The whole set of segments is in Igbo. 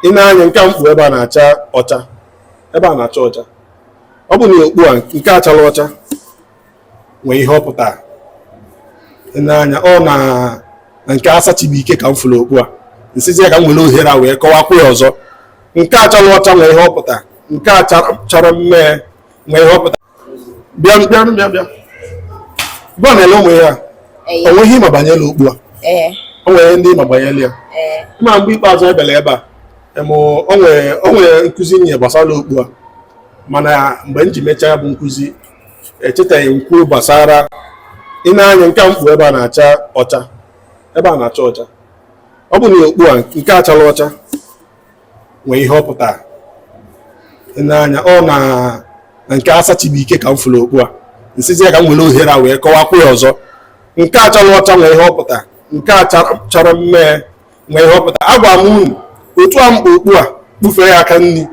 ị na-anya nke a m kpu ebe a na-acha ọcha ebe a na-acha ọcha ọ bụ na okpu a nke a chara ọcha nwee ihe ọ pụtara ị na-anya ọ na na nke asachibuike ka m fụrụ okpu a nsizi ya ka m nwere ohere a wee kọwakwa ya ọzọ nke a chara ọcha nwee ihe ọ pụtara nke a chara mmee nwee ihe ọ pụtara bịa bịa bịa bịakwa na-ele ụmụ ihe a o nwere ihe ị ma banyere okpu a o nwere ihe ndị ị ma banyere ya ị ma mgbe ikpeazụ anyị bịara ebe a o nwere nkụzi m nye gbasara okpu a mana mgbe m ji mechaa bụ nkụzi echetaghị m kwuo gbasara ị na-anya nke m kpu ebe a na-acha ọcha ebe a na-acha ọcha ọ bụ na okpu a nke a chara ọcha nwee ihe ọ pụtara n'anya ọ na nke asachibuike ka m fụrụ okpu a nsizi ya ka m nwere ohere a wee kọwakwa ya ọzọ nke a chara ọcha nwee ihe ọ pụtara nke a chara mmee nwee ihe ọ pụtara agwa m unu otu a m kpu okpu a kpufee ya aka nri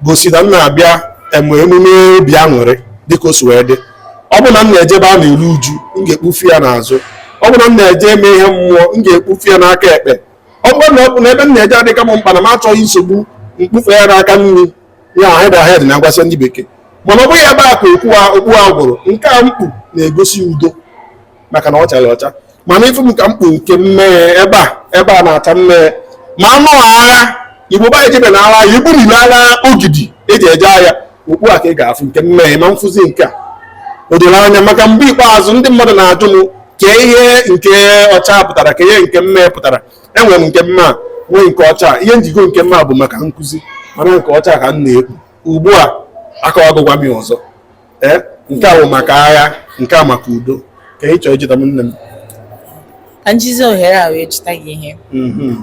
gosi na m na-abịa eme emume obi aṅụrị dịka o si wee dị ọ bụ na m na-eje ebe a na-eru uju m ga-ekpufe ya n'azụ ọ bụrụ na m na-eje eme ihe mmụọ m ga-ekpufe ya n'aka ekpe ọ bụrụ na ọ bụ na ebe m na-eje adịka m mkpa na m achọghị nsogbu m kpufe ya n'aka nri ahead ahead na agwasị ndị bekee mana ọ bụghị ebe a ka okwu a okpu a gwụrụ nke a m kpu na-egosi udo maka na ọ chara ọcha mana ị fụ m ka m kpu nke mmee ebe a ebe a na-acha mmee ma na ọ agha igbo ba ejebe na agha igbo nile agha ogidi eji eje agha okpu a ka ị ga-afụ nke mmee ma m fụzi nke a o doro anya maka mgbe ikpeazụ ndị mmadụ na-ajụ m kee ihe nke ọcha pụtara kee ihe nke mmee pụtara enwere m nke mmee nwee nke ọcha ihe m ji goo nke mmee bụ maka nkụzi mana nke ọcha ka m na-ekpu ugbu a akọwagokwa m ọzọ ee eh, nke a bụ maka agha nke a maka udo kee ị chọọ ịjụta m nne m ka m jizi ohere a wee jụta gị ihe mhm.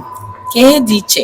kee ihe dị iche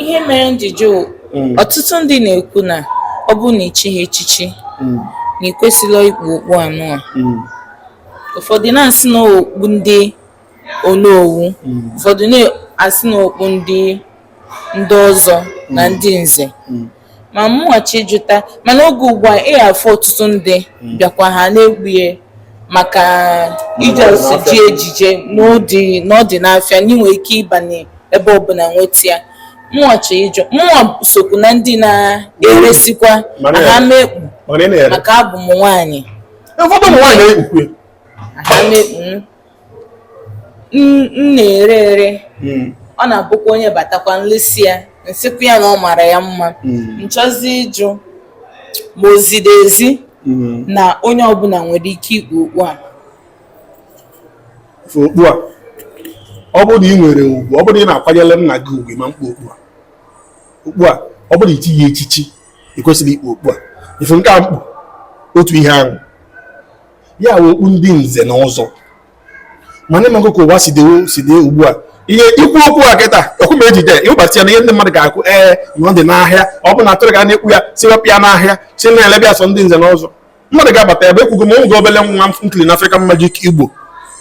ihe mere m ji jụ mm. ọtụtụ ndị na-ekwu na ọ bụrụ na i chighị echichi mm. na i kwesịrọ ikpu okpu anụ a mm. ụfọdụ na-asị na okpu ndị onowu ụfọdụ na-asị na okpu ndị ndị ọzọ na ndị nze ma mụnwa chọ ịjụta mana oge ugbu a ị afụ ọtụtụ ndị hmm. bịakwa ha na-ekpu ya maka ije osi ji ejiji n'ụdị na ọ dị n'afịa na i nwe ike ịbanye ebe ọbụla nweta ya mụnwa chọ ịjụ mụnwa sokwu na ndị na-eresikwa aha m ekpu maka abụ m nwaanyị ụfọdụ ụmụ nwaanyị na-ekpukwe M na-ere ere, hmm. ọ na-abụkwa onye batakwa m lesịa ya m sịkwa ya na ọ mara ya mma nchọzi hmm. ịjụ ma o ziri ezi hmm. na onye ọbụla nwere ike ikpu okpu a okpu a ọ bụrụ na ị nwere ugwu ọ bụrụ na ị na-akwanyere nna gị ugwu ma mkpa okpu a okpu a ọ bụrụ na i chiri echichi ị kwesịrị ikpu okpu a ị fụ nke a m kpu otu ihe ahụ ya wụ okpu ndị nze na ọzọ mana ịmago ka ụwa si dewo si dị ugbu a ihe ikwu okwu a kịta okwu ma ejide ịwụbata ya na ihe ndị mmadụ ga-akwụ ee na ọ dị n'ahịa ọ bụ na atụrụ ga na-ekwu ya sị wepụ ya n'ahịa sị na-elebe ya sọ ndị nze na ọzọ mmadụ ga-abata ebe ekwugo m oge obele nwa m kiri na African Magic Igbo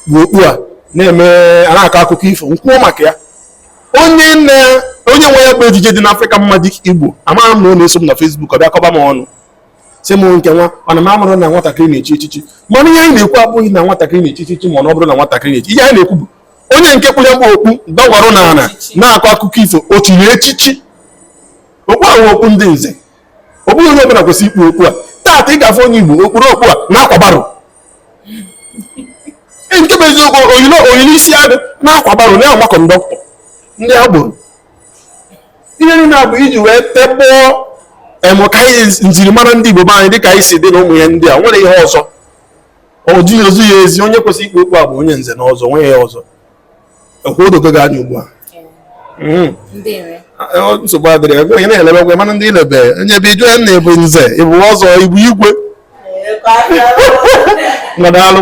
kpu okpu a na-eme a na-akọ akụkọ ifo m kwuo maka ya onye nne onye nwe ya bụ ejije dị na African Magic Igbo amaghị m na ọ na-eso m na Facebook ọ bịa kọba m ọnụ sị m nke nwa mana m amarọ na nwatakịrị na-echi echichi mana ihe anyị na-ekwu abụghị na nwatakịrị na-echi echichi mana ọ bụrụ na nwatakịrị na-echi ihe anyị na-ekwu bụ onye nke kpuru ya bụ okpu dọgwarụ n'ana na-akọ akụkọ ifo o chiri echichi okpu ahụ okpu ndị nze ọ bụghị onye ọbụla kwesịrị ikpu okpu a taata ị ga-afụ onye igbo o kpuru okpu a na-akwa barrow nke bụ eziokwu o yiri isiagụ na-akwa barrow na-agba conductor ndị agboro ihe niile a bụ iji wee tikpọọ emụ ka anyị njirimara ndị Igbo be anyị dịka isiagụ na ụmụ ihe ndị a nwere ihe ọzọ o ji ezi ya ezi onye kwesịrị ikpu okpu a bụ onye nze na ọzọ nwe ya ọzọ ọkwa o dogo gị anya ugbu a hmm. nsogbu adịrọ ego onye na-elebe gwe mana ndị ilebe onye bụ ijụ ya na ịbụ nze ịbụ ọzọ ịbụ igwe ngwa daalụ